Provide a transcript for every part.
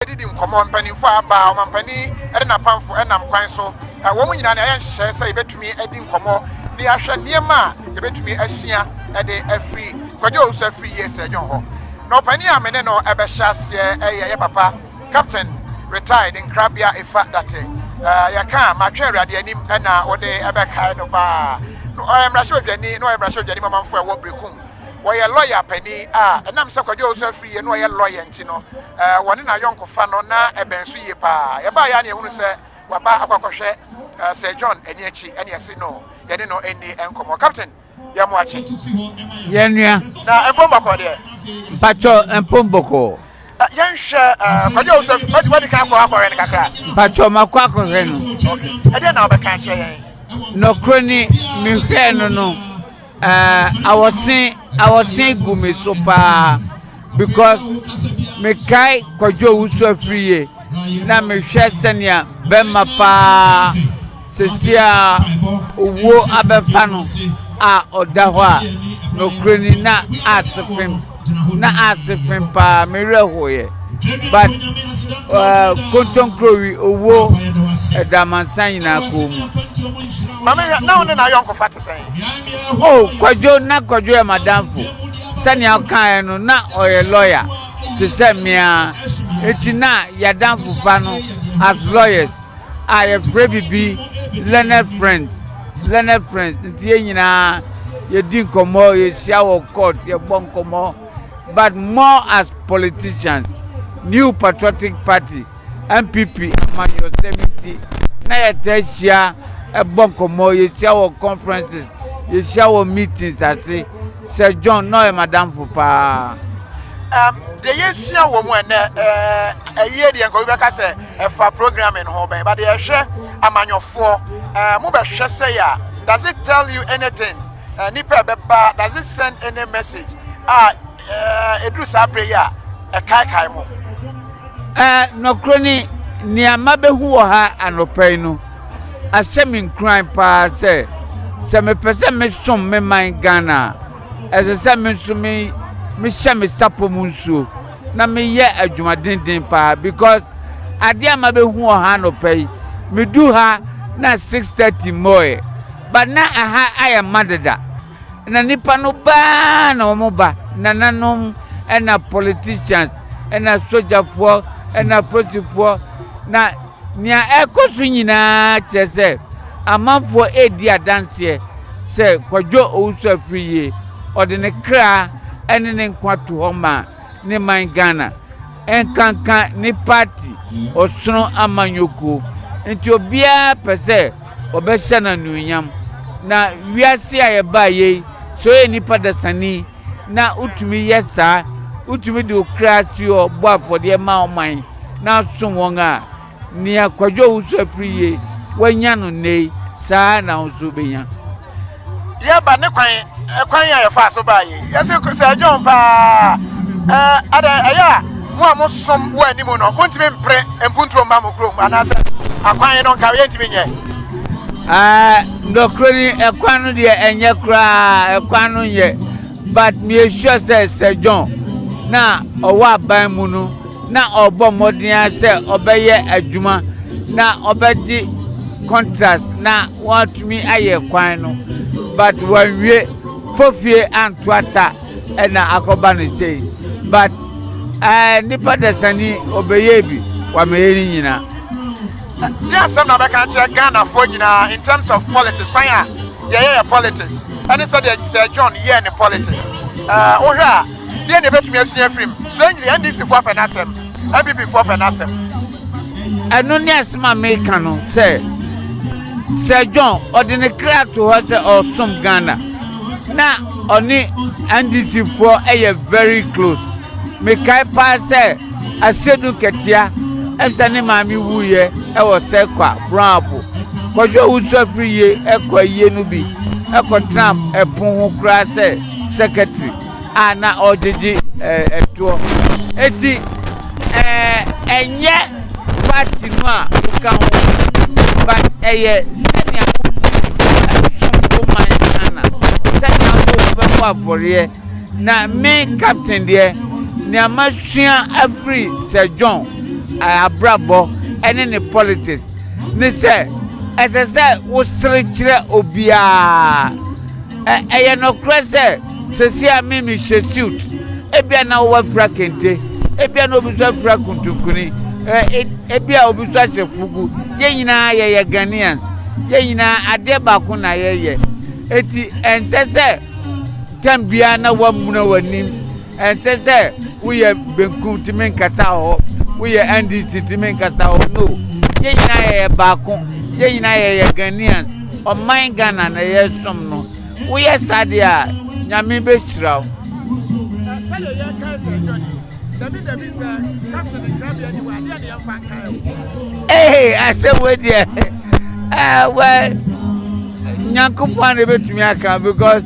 didi nkɔmmɔ mpanimfoɔ a aba ɔmampanin ne n'apamfo nam kwan so wɔn nyinaa na ɛyɛ nhyehyɛe sɛ yɛbɛtumi adi nkɔmmɔ ne ahwɛ nneɛma a yɛbɛtumi asua de afiri kwadwo owusu afiri yie sɛ dwon hɔ na ɔpanin a me ne no ɛbɛhyɛ aseɛ ɛyɛ yɛ papa Captain retired nkrabea efa date eh, yɛ ka matwe awurade anim ɛna wode ɛbɛkae no baa no ɔyɛ mmarahyɛbadwani na ɔyɛ mmarahyɛbadwani mamamfo a ɛwɔ Brekum wɔyɛ lɔya pani a ɛnam sɛ kwadwo ɔwusu afiri yie na ɔyɛ lɔya nti no eh, wɔne na yɔnkofa no na ɛbɛn so yie paa yɛbaa yɛ ne ɛhunu sɛ waba akɔakɔhwɛ eh, Sir John ani akyi ɛne ɛse no yɛne no ɛni nkɔmmɔ Captain yɛ mo akye. Yɛn nua. Na mpom bɔkɔɔ deɛ. Mpatsɔ mpom bɔkɔɔ. Ɛ yɛn hwɛ ɛ kɔdɛ o sɛ mɛti mɛti kan kɔ akɔhwɛ no kakra. Mpatsɔ ma kɔ akɔhwɛ no. Ok ɛdeɛ na ɔbɛka akyerɛ yɛn. Nɔkorɛ ni mi hwɛɛ no no ɛ awɔtwe awɔtwe gu mi so paa because mi kae kɔdwo owusu afiri yie na mi hwɛ sɛnea bɛma paa Seseiaa owuo abɛfa no a ɔda hɔ a, nɔkorɛni na aase fem, na aase fem paa, me werɛ hoeɛ but uh, kontonkrowi owuo ɛda amansan nyinaa kɔɔ mu. Mame hwɛ, na wo ne n'ayɔnkofa te sɛn? Oh, Kwadwo, na Kwadwo yɛ madamfo. Sɛnea ɔkaeɛ no, na ɔyɛ lɔya te sɛ mmea, enti na yɛadamfofa no as lawyers. a yɛfrɛ biribi learned friends learned friends nti yɛn nyinaa yɛdi nkɔmmɔ yɛhyia wɔ court yɛbɔ nkɔmmɔ but more as politicians new patriotic party npp amanyɔsɛm nti na yɛtaa hyia ɛbɔ nkɔmmɔ yɛhyia wɔ conferences yɛhyia wɔ meetings ase Sɛ John na ɔyɛ m'adamfo paa. Um, deɛ yɛsua wɔ mu ɛnɛ ɛyie deɛ nka obi bɛka sɛ ɛfa programming ho bɛn ba deɛ ɛhwɛ amanyɔfoɔ uh, mobɛhwɛ sɛ yɛ a does it tell you anything uh, nipa ɛbɛba does it send any message a ɛduru saa berɛ yi a ɛkaekae mo nɔkorɔ ni nneɛma bɛhu wɔ ha anɔpa yi no ahyɛ me nkuran paa sɛ sɛ mepɛ sɛ mesom me man Ghana a, ɛsɛ sɛ me nso me mehyɛ me sapɔ mu nsuo na meyɛ adwumadenden paa because adeɛ a mabɛhu wɔ ha anɔpa yi medu ha na 6:30 mmɔɛ but na aha ayɛ ma deda na nipa no baa na wɔn ba nananom ɛna politicians ɛna sogyafoɔ ɛna polisifoɔ na nea ɛkɔ so nyinaa kyerɛ sɛ amanfoɔ ɛredi adanseɛ sɛ kwadwo owusu afiri yie ɔde ne kra ɛne ne nkwa to hɔ ma ne man Ghana ɛnkanka ne party ɔsono amanyɔkuo nti obiara pɛ sɛ ɔbɛhyɛ no anuonyam na wiase a yɛbaa yei sɛ ɔyɛ nipa dasani na wotumi yɛ saa wotumi de okra si hɔ bɔ afɔdeɛ ma ɔman na asom wɔn a Nea Kwadwo Owusu-Apiri ye, wanya no nnɛ yi, saa ara na wo nso wobɛnya. Yɛba ne kwan, ɛkwan a yɛfaa so baa yei. Yɛse sɛ ɛdwoɔn paa a, adɛn ɛyɛ a mo a mosom wɔ anim no, montumi mpere mpuntuo mma mo kurom anaasɛ akwan no nka yɛntumi nyɛ? Ah, nɔkorɛ ni, ɛkwan no deɛ ɛnyɛ koraa, ɛkwan no nyɛ, but meyɛ sure sɛ Sir John na ɔwɔ aban mu no, na ɔrebɔ mmɔden ara sɛ ɔbɛyɛ adwuma na ɔbɛgye contract na wɔatumi ayɛ kwan no but wanwie fofie anto ata ɛna akɔba no sei but ɛɛ eh, nipa dasani ɔbɛyɛ bi wamɛyɛ ne nyinaa. ne asɛm na bɛka kyerɛ ghanafoɔ nyinaa in terms of politics kwan a yɛyɛ yɛ politics ɛne sɛdeɛ sɛ john yɛɛ ne politics wohwɛ a Deɛn na yɛbɛtumi asua afiri mu? Strangely, NDC foɔ pɛ n'asɛm, NPP foɔ pɛ n'asɛm. Ɛno ne asɛm a meka no sɛ Sir John ɔde ne kra to hɔ sɛ ɔresom Ghana na ɔne NDC foɔ yɛ very close. Mekae paa sɛ Asedu Katia ɛnsa ne maame wuiɛ ɛwɔ Sɛkwa Brɔnabo. Kwadwo a wosu afiri yie ɛkɔ ayie no bi ɛkɔtena ɛpono ho koraa sɛ secretary. a na ɔgyegye toɔ eti ɛnyɛ party no a woka ho but ɛyɛ sɛnea wosom wo man Ghana sɛnea wobɛbɔ afɔreɛ na me captain deɛ nea masua afiri Sir John abrabɔ ɛne ne politics ne sɛ ɛsɛ sɛ wosere kyerɛ obiara ɛyɛ nɔkorɛ sɛ Seesei a me mehyɛ suit, ebia na wo afira kente, ebia na obi nso afira kuntunkuni, e, ebia obi nso ahyɛ fugu. Yɛn nyinaa yɛyɛ Ghanaians. Yɛn nyinaa adeɛ baako na yɛyɛ. Eti ɛnsɛ sɛ tɛm biara na wamuna w'anim. Ɛnsɛ sɛ woyɛ benkum tumi nkasa hɔ, woyɛ NDC tumi nkasa hɔ. No, yɛn nyinaa yɛyɛ baako. Yɛn nyinaa yɛyɛ Ghanaians. Ɔman Ghana na yɛsom no. Woyɛ saa deɛ a, Nyame bɛhyira wo. Na sɛdeɛ yɛrekae sɛ ɛdɔ ni. Dabi dabi sɛ caption nkrabea ni hɔ a, deɛ na yɛmfa nkae wo. Ee, asɛm wei deɛ, eh, wɛ, Nyankopɔn a na ɛbɛtumi aka because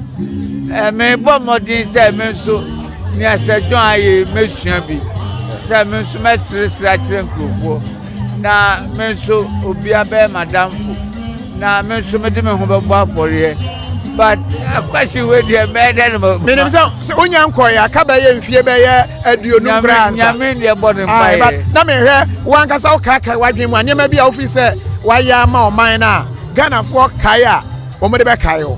eh, mebɔ mmɔden sɛ me nso nea Sir John ayɛ mɛsua bi sɛ me nso mɛseresere akyerɛ nkurɔfoɔ. Na me nso, obiara bɛyɛ m'adamfo. Na me nso mede me ho bɛbɔ afɔreɛ. But akwasi wei deɛ mɛyɛ dɛ na ma. Menim sɛ sɛ wonya nkɔeɛ aka bɛyɛ mfie bɛyɛ aduonum koraa nsa. Nyame deɛ bɔ ne mpaeɛ. Na mehwɛ wankasa wokaakae w'adwene mu a nneɛma bi a wofii sɛ wayɛ ama ɔman no a Ghanafoɔ kae a wɔde bɛkae wo.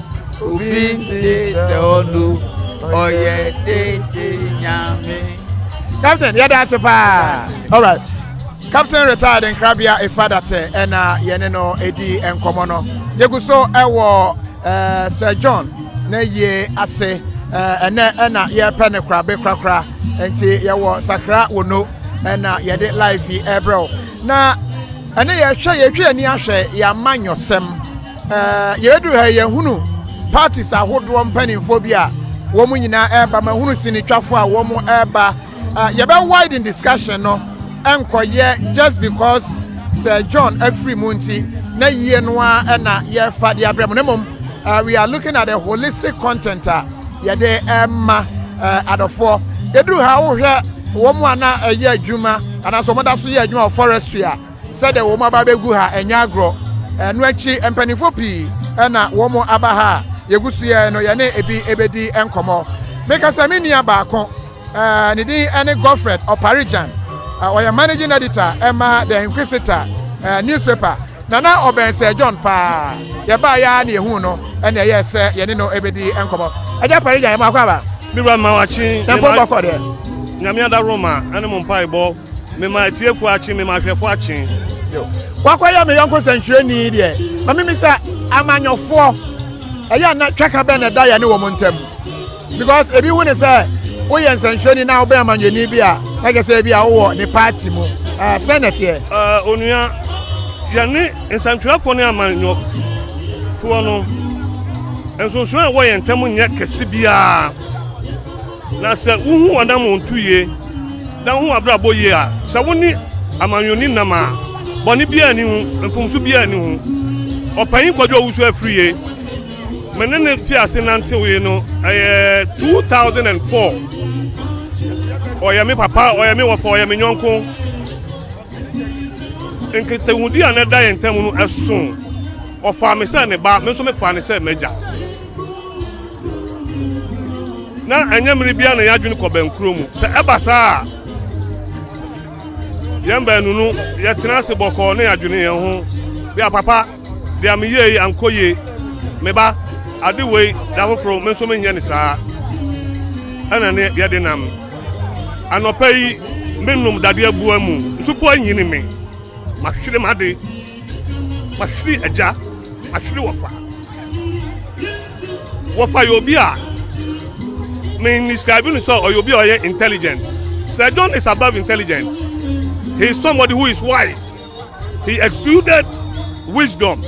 Obi nti sɛ ɔno ɔyɛ tete nyame. Captain, yɛda ase paa. All right. Captain retired nkrabea Ifadatɛ ɛna yɛne no ɛdi nkɔmmɔ no. Yɛgu so ɛwɔ eh, Sir John na yie ase eh, ɛnɛ ɛna yɛrepɛ no korabe korakora nti yɛwɔ sakra wo no ɛna yɛde live yi ɛbrɛ wo na ɛne yɛhwɛ yɛtwe ani ahwɛ yɛama nyɔsɛm Yɛduru ha yi, yɛhunu parties ahodoɔ mpanimfoɔ bi a wɔn nyinaa ɛreba. Mahunu sinitwafoɔ a wɔn ɛreba. Yɛbɛ widen discussion no nkɔyɛ just because Sir John afiri mu nti na yie no a ɛna yɛrefa de abrɛ mu. Na mmom we are looking at the holistic content a yɛde ɛma adɔfoɔ. Yɛduru ha wohwɛ wɔn a na ɛyɛ adwuma anaasɛ wɔn da so yɛ adwuma wɔ forestry a Sɛdeɛ wɔn aba abɛgu ha, ɛnyɛ agorɔ. Ɛno akyi, mpanimfoɔ pii na wɔaba ha a yɛgu so yɛn no, yɛne ebi bɛdi nkɔmmɔ. Meka sɛ me nua baako, ne din ne Godfred Oparijan. Ɔyɛ managing editor ma The Inquisitor newspaper. Na na ɔbɛn Sir John paa. Yɛbaeɛ ara na yɛhuu no na ɛyɛɛ sɛ yɛne no bɛdi nkɔmmɔ. Agya Oparijan, yɛma wakɔ aba? Me wura, mema wakye. Dɛn mpo na mobɛkɔ deɛ? Nyame adaworo ma ɛne mo mpaebɔ. Mema atiefo akye, mema ahwɛfo akye. Wakɔyɛ me yɔnko sɛnkyerɛnni deɛ. Ma mimi sɛ amanyɔfoɔ ɛyɛ a na twaka bɛn na ɛda yɛne wɔn ntam because ebi hu ne sɛ woyɛ nsɛnkyerɛnni na wobɛn amanyɔni bi a na kyerɛ sɛ ebi a wowɔ ne paati mu ɛɛ sɛn na ɛteɛ. Ɛɛ onua yɛne nsɛntwerɛfoɔ ne amanyɔfoɔ no nsonsono a ɛwɔ yɛn ntam nyɛ kɛse biara na sɛ wohu wɔn anammɔntu yie Dɛn ho abrabɔ ye a sɛ wone amanyɔni nam a bɔne biara nni ho, mfomso biara nni ho! Ɔpanyin Kwadwo Owusu-Afriye, me ne no fii ase nantewee no, ɛyɛ 2004. Ɔyɛ me papa, ɔyɛ me wɔfa, ɔyɛ me yɔnko. Enti, nkitahodi a na ɛda yɛn ntam no sõ. Ɔfaa me sɛ ne ba, me nso mefaa no sɛ m'agya. Ná ɛnyɛ mmere biara na yɛn adwene kɔ bɛnkoro mu. Sɛ ɛba saa a, yɛn baanu no, yɛtena ase bɔkɔɔ na yɛadwene yɛn ho. Bia papa. Deɛ meyɛɛ yi ankɔ yie. Me ba, ade wei da foforɔ me nso menyɛ no saa. Ɛna ne yɛde nam. Anɔpa yi menom dadeɛ boa mu. Nsupɔ anyini me. Mahwere m'ade. Mahwere agya. Mahwere wɔfa. Wɔfa yɛ obi a me describe no sɛ ɔyɛ obi a ɔyɛ intelligent. Sir John is above intelligent. He is somebody who is wise. He exuded wisdom.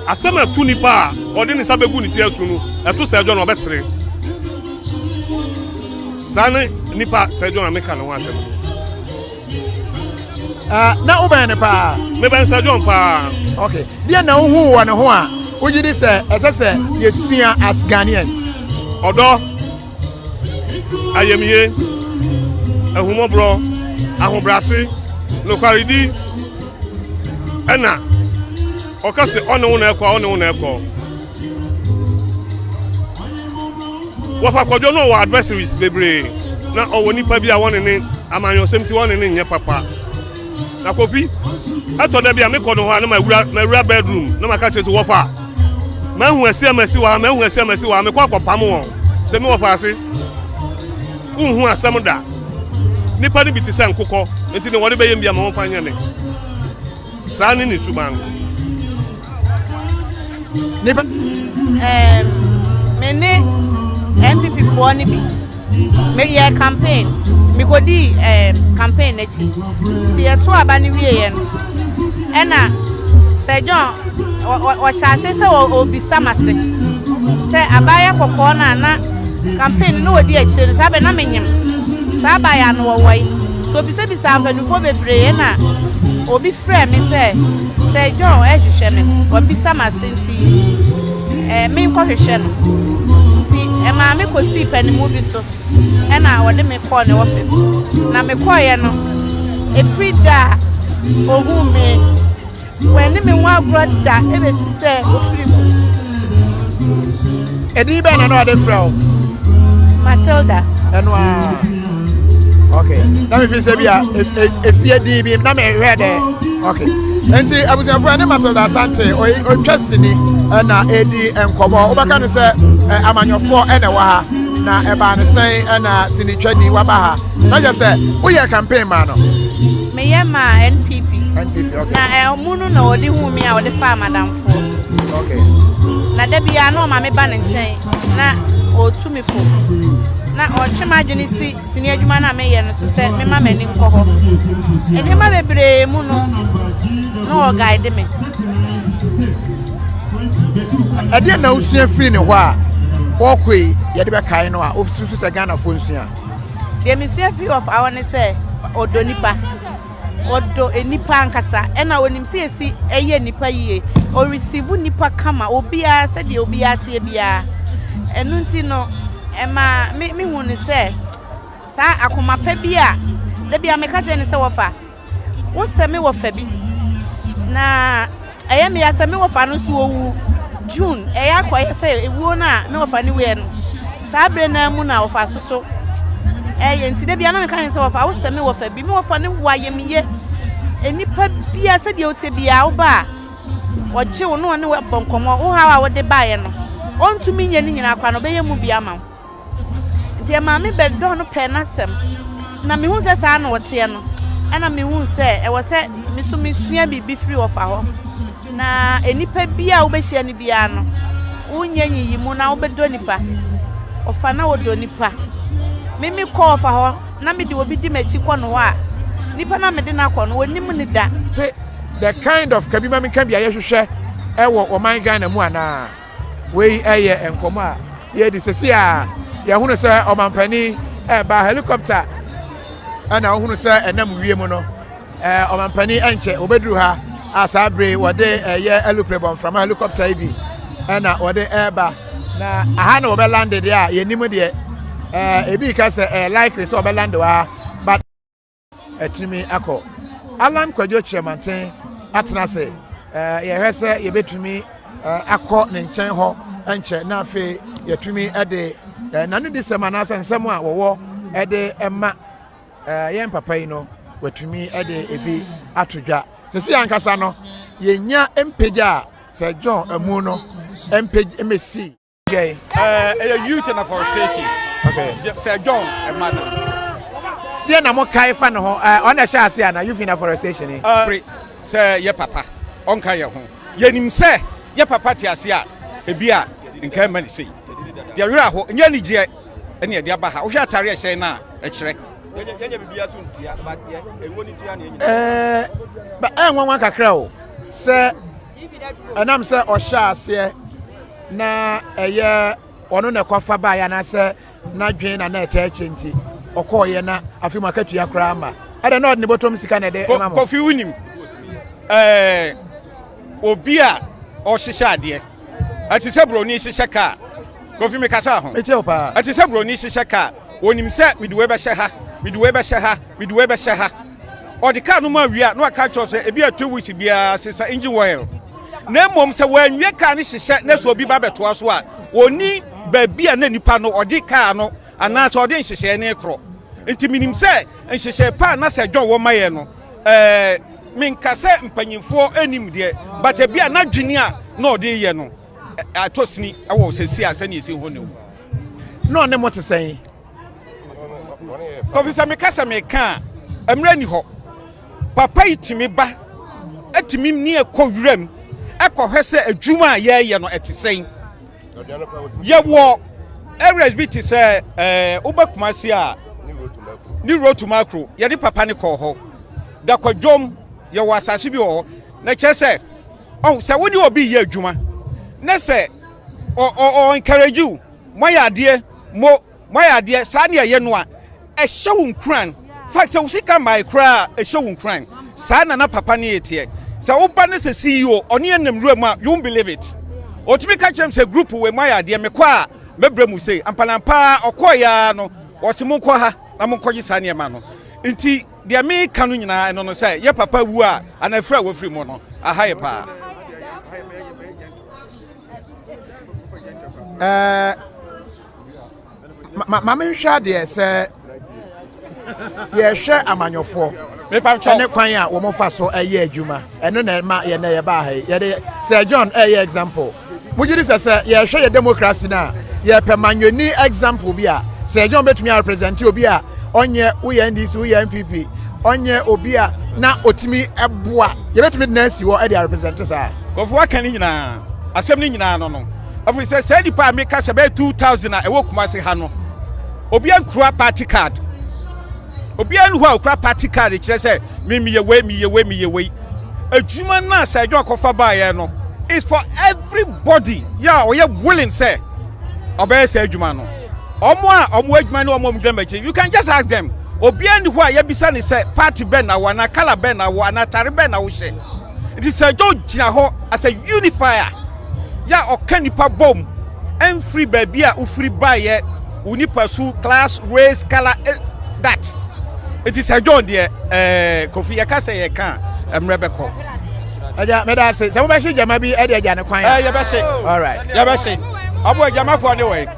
Asɛm a ɛto nipa a ɔde ne nsa bɛgu ne ti asu no, ɛto Sir John a ɔbɛsere. Saa ne nipa Sir John a meka ne ho asɛm no. Ah, na wobɛn ne paa? Mebɛn Sir John paa. Okay. Deɛ na wohu wɔ ne ho a wogye di sɛ ɛsɛ sɛ yɛsua as Ghanaians? Ɔdɔ. ayamye, ahummɔborɔ, ahobrɛase, nokwaredi, ɛna ɔka sɛ ɔne wo na ɛkɔ a ɔne wo na ɛkɔ. Wɔfa kwadwo no wɔ adversaries bebree na ɔwɔ nipa bi a wɔne ne amanyɔsɛm ti wɔne ne nyɛ papa. na kofi ɛtɔ da bi a mekɔ no hɔ a na mawura mawura bedroom na maka kyerɛ sɛ wɔfa mahu asi a masi wɔ ha mahu asi a masi wɔ ha mekɔ akɔpam wɔn sɛ me wɔfa ase wohu asɛm da nipa no bi te sɛ nkokɔ nti na wɔde bɛyɛ mbia ma wɔmfa nyɛ ne saa ne ne suban Nnipa ɛɛm me ne NPP foɔ no bi meyɛ campaign mekodii ɛɛm campaign n'akyi nti yɛto aba no wieɛ no ɛna sɛ John ɔhyɛ ase sɛ ɔbisa ma se sɛ abaayɛ kɔkɔɔ no a na campaign no ɔdi akyire no saa bɛ na menyem saa abaayɛ ano wɔwɔ yi so ɔbisabisaa mpanimfoɔ bebree na obi frɛ me sɛ Sɛ John rehwehwɛ me no, wabisa m'ase nti ɛɛ menkɔhwehwɛ no. Nti ɛmaa me kɔsii panimu bi so ɛna ɔde me kɔɔ ne ɔfese. Na mekɔeɛ no, ɛfiri da a ɔhuu me, wanni me ho agorɔ da ɛbɛsi sɛ ɔfiri mu. Ɛdin bɛn na na ɔde frɛ wo? Matilda. Ɛno ara. okay na mi fi sɛ bi a efie di bi na mi hwɛ dɛ okay nti abusuafo ɛne matilda asante ɔtwa sini ɛna edi nkɔmɔ wobɛka no sɛ amanyɔfoɔ ɛna ɛwɔ ha na ɛbaa ne sɛn ɛna sini twani waba ha na yɛ sɛ woyɛ campaign maa no. meyɛ maa npp na ɛmu no na ɔde hu mi a ɔde fa amadamfoɔ na da biara na ɔma me ba ne nkyɛn na ɔtu me kɔ. Ná ɔretwe m'adwene si sini adwuma no a meyɛ no so sɛ memma m'ani nkɔ hɔ. Nneɛma bebree mu no, na ɔguide me. Ɛdeɛ na wosua firi ne hɔ a wɔkɔe yɛde bɛkae no a wosusu sɛ Ghanafoɔ nsua? Deɛ mesua firi ɔfa hɔ ne sɛ ɔdɔ nipa. Ɔdɔ nnipa ankasa. Ɛna onim sɛ esi ɛyɛ nnipa yie. Ɔreceive nnipa kama. Obiara sɛdeɛ obiara teɛ biara. Ɛno nti no, ɛma me mehu no sɛ saa akoma pa bi a da bi a meka kyerɛ no sɛ wɔfa wosɛ me wɔ fa bi na Ɛyɛ me ya sɛ me wɔfa no nso owu. June, Ɛyɛ akɔyɛ sɛ ewuo no a me wɔfa no wuiɛ no, saa berɛ no ara mu na wɔfa so so ɛyɛ. Nti da bia na meka ne sɛ wɔfa wo sɛ me wɔfa bi. Me wɔfa no wu a yɛ me yɛ. Nnipa bia sɛdeɛ wo te bia wo ba a ɔgye wo na ɔne wo bɔ nkɔmmɔ, wo haw a wode baeɛ no, ɔntumi nyɛ ne nyinaa koraa no ɔbɛyɛ mu bi ama wo. Deɛ maa me bɛdɔ no pɛɛ n'asɛm na mehu sɛ saa na ɔteɛ no ɛna mehu sɛ ɛwɔ sɛ me so mesua biribi firi ɔfa hɔ na nnipa bi a wobɛhyia no biara no wonyɛ nyiyi mu na wobɛdɔ nipa ɔfa na wɔdɔ nipa meme kɔ ɔfa hɔ na mede obi di m'akyi kɔ no hɔ a nipa na mede no akɔ no wɔnim ne da the kind of kabima meka bi a yɛhwehwɛ ɛwɔ ɔman Ghana mu anaa Wei yɛ nkɔmmɔ a yɛredi sɛsi a yɛhunu sɛ ɔmampanin ɛreba helicopter ɛna wohunu sɛ ɛnam wiem no ɔmampanin ɛnkyɛ wɔbɛduru ha a saa bere wɔde ɛyɛ alupere bɔ mframa helicopter yi bi ɛna wɔde ɛreba na aha na wɔbɛlande deɛ a yɛnim deɛ ɛɛ ebi ka sɛ ɛyɛ likely sɛ wɔbɛlande wɔ ha but atumi akɔ. Allan Kwadwo Kyerɛmanten atena ase. Eh, yɛhwɛ sɛ yɛbɛtumi eh, akɔ ne nkyɛn hɔ nkyɛ na afei yɛtumi de eh, nanodisɛm anaasɛ nsɛm a wɔwɔ de ma yɛn papa yi no watumi de ebi ato dwa sisi ankasa no yɛnya mpagya a sɛ john amu no mpagya mmɛsi Jay. Uh, a youth and afforestation. Okay. Sir John, a mother. Deɛ na mo kae fa ne ho ɔna hyɛ ase ana youth in afforestation ni. Pre sɛ yɛ papa ɔnka yɛ ho yɛnim sɛ yɛ papa te ase a ebi a nka ɛma ne sei deɛ werɛ aho nyɛ anigyeɛ ɛne ɛde aba ha wohwɛ atare ɛhyɛn no a ɛkyerɛ ɛɛ ɛnwanwa kakra o sɛ ɛnam sɛ ɔhyɛ aseɛ na ɛyɛ ɔno na ɛkɔfa baeɛ anaasɛ n'adwene na na ɛtaa akyi nti ɔkɔɔyɛ na afei mu akatua koraa ma ɛdɛ na ɔde ne bɔtɔm sika na ɛde ma mo. kofi wonim ɛɛ obi a ɔhyehyɛ adeɛ ɛte sɛ buroni hyehyɛ kaa kofi mi kasa ho ɛte sɛ buroni hyehyɛ kaa wɔnim sɛ mede wei bɛhyɛ ha mede wei bɛhyɛ ha mede wei bɛhyɛ ha ɔde kaa no ma wie a, na waka kyerɛ sɛ ebi a two weeks biara sesa engine oil. Na mmom sɛ wɔanwie kaa no hyehyɛ na sɛ obi ba bɛtoa so a, onni baabi a na nipa no ɔde kaa no anaasɛ ɔde nhyehyɛe no rekorɔ. Nti minim sɛ nhyehyɛe pa a na Sir John wɔ ma yɛn no, eh, menka sɛ mpanyimfoɔ nnim deɛ, but ebi a n'adwene a na ɔde reyɛ no, eh, atɔ sini wɔ seesei a sɛnea esi hɔ nnɛ mu. Na ɔne mo te sɛn? Kofi sɛ meka sɛ meka a mmerɛ ni hɔ papa yi tumi ba atumi ne ɛkɔ wuram ɛkɔhwɛ sɛ adwuma a yɛyɛ no ɛte sɛn yɛwɔ areas bi te sɛ ɛɛ woba kumase a ne rotu makro yɛde papa ne kɔɔ hɔ dakwadwom yɛwɔ asase bi wɔ hɔ na kyerɛ sɛ ɔn sɛ wo ne obi yɛ adwuma ne sɛ ɔ ɔ ɔ encourage you Moayɛ adeɛ mo moayɛ adeɛ saa ne ɛyɛ no a ɛhyɛ wo nkuran fact sɛ wo sika mmae koraa a ɛhyɛ wo nkuran saa na na papa no reteɛ sɛ wo ba no sɛ CEO ɔne yɛn nam nwura mu a you won't believe it ɔtumi ka kyerɛ me sɛ group wei moayɛ adeɛ mekɔ a mɛbrɛ mu sei ampanampaa ara ɔkɔɔ yɛ ara no wɔse monkɔ ha na monkɔgye saa nneɛma no nti deɛ meka no nyinaa ɛno no sɛ yɛ papa wu a anaa firi a wafiri mu no aha yɛ paa. ɛɛ ma me nhwɛ adeɛ sɛ yɛhwɛ amanyɔfoɔ ɛne kwan a wɔn fa so ɛyɛ adwuma ɛno na ɛma yɛn na yɛba ha yi yɛde sɛ john ɛyɛ example mo gyi di sɛ sɛ yɛhwɛ yɛ democracy na yɛpɛ manyɔni example bi a sɛ john betumi a represent obi a ɔnyɛ woyɛ ndc woyɛ npp ɔnyɛ obi a na otumi ɛboa yɛbɛtumi de na asi hɔ ɛde a represent saa. Nkurɔfo aka ne nyinaa, asɛm no nyinaa ano no, ɛfiri sɛ saa nnipa a meka sɛ bɛyɛ 2,000 a ɛwɔ Kumasi ha no, obiara nkura party card. Obiara nni hɔ a okura party card kyerɛ sɛ me meyɛ wei meyɛ wei meyɛ wei. Adwuma no a Sir John kɔfa baeɛ no is for everybody yɛ a ɔyɛ willing sɛ ɔbɛyɛ saa adwuma no. Wɔn a wɔn adwuma ne wɔn a wɔgyina m'akyi you can just ask them. Obiara nni hɔ a yɛbisa ne sɛ party bɛn na wɔ anaa colour bɛn na wɔ anaa atare bɛn na wohyɛ. Nti Sir Joe gyina hɔ as a unifier yɛ a ɔka nipa bom ɛmfiri baabi a wofiri baeɛ, wo nipa su, class, race, colour, eh, that. Nti Sir John deɛ ɛɛ Kofi yɛka sɛ yɛka a mmerɛ bɛkɔ. Agya meda ase sɛ mobɛhye gyama bi ɛde agya ne kwan a. Ɛɛ yɛbɛhye. Alright. Yɛbɛhye. Ɔbo agyamafoɔ ne wɔn.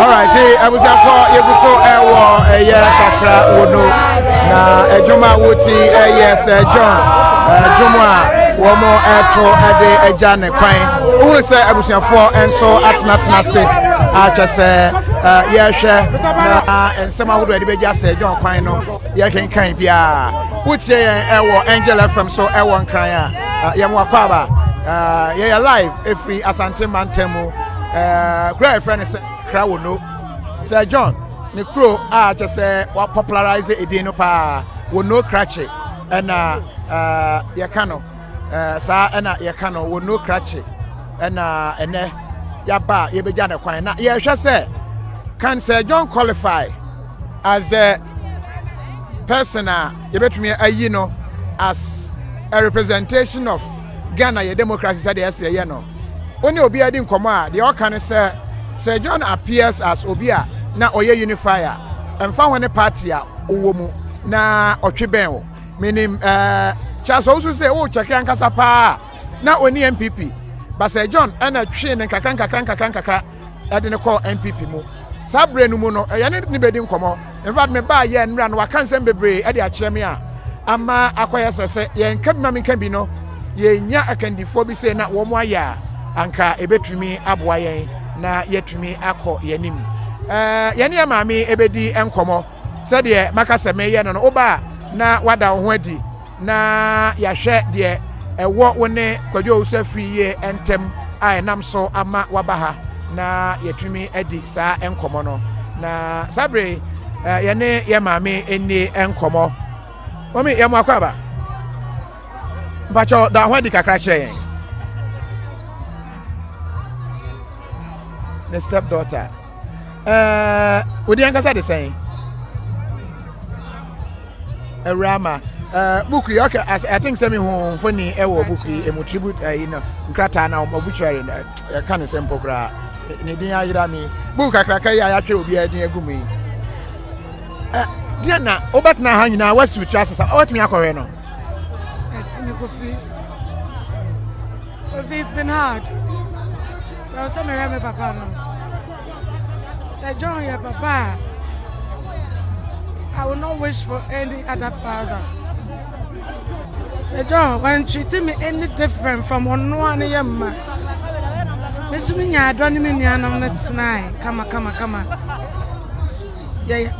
alright abusuafo yɛgu so ɛwɔ ɛyɛ sakra wo no na adwuma a woti ɛyɛ sɛ john adwuma a wɔn ɛto ɛde agya ne kwan wohunu sɛ abusuafoɔ nso atenatena ase akyɛ sɛ yɛhwɛ na nsɛm ahodoɔ yɛde bɛgya sɛ john kwan no yɛkenkan biara wotie yɛn ɛwɔ angel fm so ɛwɔ nkran a yɛn wakɔ aba yɛyɛ live ɛfiri asante mantam mu ɛɛ kuro a yɛfrɛ no sɛ krawono sɛ john ne kuro a kyɛ sɛ wapopularize edin no paa wono krakye ɛna ɛɛ yɛka no ɛɛ saa ɛna yɛka no wono krakye ɛna ɛnɛ yaba a yɛbɛgya ne kwan na yɛhwɛ sɛ can sɛ john qualify as the person a. Yɛbɛtumi ayi no as a representation of Ghana yɛ democracy sɛdeɛ ɛsɛ yɛ no. Wo ne obiara di nkɔmmɔ a, deɛ ɔka ne sɛ, Sir John appears as obi a na ɔyɛ unify a, ɛmfa ho ne party a wowɔ mu, na ɔtwe bɛn wo. Menim eh, Charles Owusu sɛ wokyɛke ankasa paa a, na ɔnni NPP, but Sir John ɛna twee no nkakra nkakra nkakra nkakra. ɛde no kɔɔ npp mu saa berɛ no mu no ɛyɛ ne ne bɛdi nkɔmmɔ infact me baa yɛ nnura no waka nsɛm bebree ɛde akyerɛ me a ama akɔyɛ sɛ sɛ yɛnka bi ma menka bi no yɛnya akandifoɔ bi sɛ na wɔn ayɛ a anka ɛbɛtumi aboa yɛn na yɛatumi akɔ yɛn anim yɛne maame ɛbɛdi nkɔmmɔ Sɛdeɛ maka sɛ mereyɛ no no, woba a na woada wo ho adi na yɛahwɛ deɛ ɛwɔ wo ne Kwadwo Owusu-Afiri yie ntam a ɛnam so ama woaba ha na yɛatumi adi saa nkɔmmɔ no. Na saa berɛ yi, eh, yɛne yɛ maame nni nkɔmmɔ. Mami, yɛ mo akɔ aba. Mpakyɛw, da ho adi kakra kyerɛ yɛn. Ne step daughter. ɛɛ wodi ankasa de sɛn awura ma ɛɛ buku yi ɔkɛ as i think sɛ mi hu mfoni ɛwɔ buku yi emu tribute ɛyi eh, na nkrataa na obituary na ɛka eh, ne sɛ mpo koraa ne din ayera mi buku kakraka yi a yɛatwe obiara din agu mu yi ɛ deɛ na wobɛtena ha nyinaa wasi otwa sesa ɔbɛtumi akɔhwɛ no. ɛtumi kofi kofi it's been hard. Ɛwɔ sɛ mehwɛ me papa no. Sɛ John yɛ papa a, I will not wish for any other father. Sɛ John wantreat me any different from ɔnoa ne yɛ mma. Me so me nya adɔ ne me nuanom no tenae kama kama kama. Yɛyɛ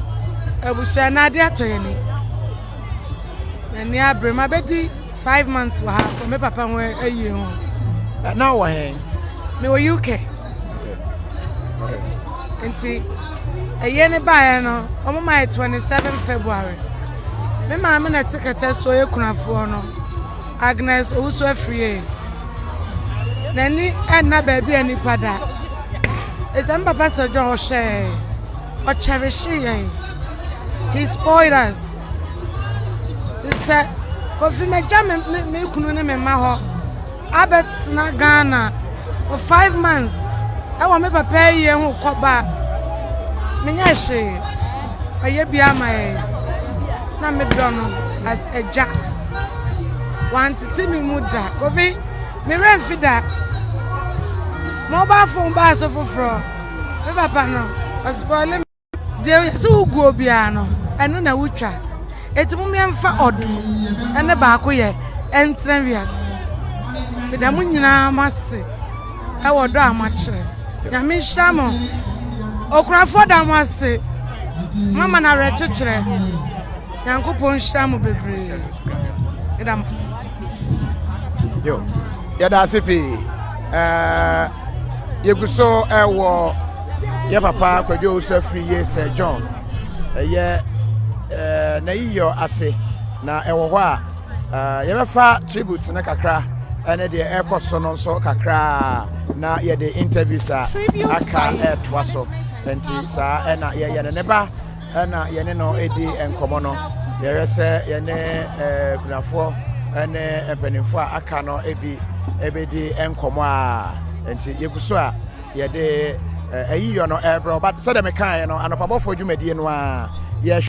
abusua na ade atɔ yɛn ni. N'ani abere ma bɛdi Five months wɔ ha wɔ me papa ho ayie ho. Na wɔ he? Mewɔ UK. Nti ɛyɛ ne baeɛ no wɔn ma yɛ twenty seven February. Me maame na ɛte kɛtɛ so yɛ kunafoɔ no Agnes Owusu Afrie. N'ani ɛnna baabi a nipa da. Ɛsɛ me papa sɛ John ɔhwɛɛ ɔkyɛrehyee yɛn. He spoiled us. Te sɛ Kofi magya me me me kunu ne me mma hɔ abɛtena Ghana for five months ɛwɔ me papa ayie ho kɔba menyɛ hwee ɔyɛ bi ama yɛn na me dɔ no as agya wantete me mu da Kofi me werɛ mfi da mobile phone baa so foforɔ me papa no ɔspoile me. Deɛ ɔyɛ sɛ wo guo biara no, ɛno na wotwa. Enti mom yɛmfa ɔdɔ ne baako yɛ ɛntena wiase. Meda mo nyinaa mo ase ɛwɔ dɔ a moakyerɛ. Nyame nhyira mo. Okurafoɔ da mo ase. Mama no awerɛkyekyerɛ. Nyankopɔn nhyira mo bebree. Meda mo ase. Yo, yɛda ase pii. Uh, yɛgu so ɛwɔ uh, yɛ papa Kwadwo Owusu afiri yie Sir John ɛyɛ eh, n'ayiyɔ ase na ɛwɔ hɔ a eh, yɛbɛfa tribute no kakra ɛne deɛ ɛrekɔ so no nso kakra na yɛde interviews a aka ɛretoa so nti saa ɛna yɛyɛ no ne ba ɛna yɛne no ɛdi nkɔmmɔ no yɛhwɛ sɛ yɛne eh, kunafoɔ ɛne mpanimfoɔ a aka no bi ɛbɛdi nkɔmmɔ a nti yɛgu so a Yɛde ayiyɔ no ɛrebrɛ wo, but sɛdeɛ mekaeɛ no, anɔpabɔfoɔ dwumadie no ara yɛhwɛ.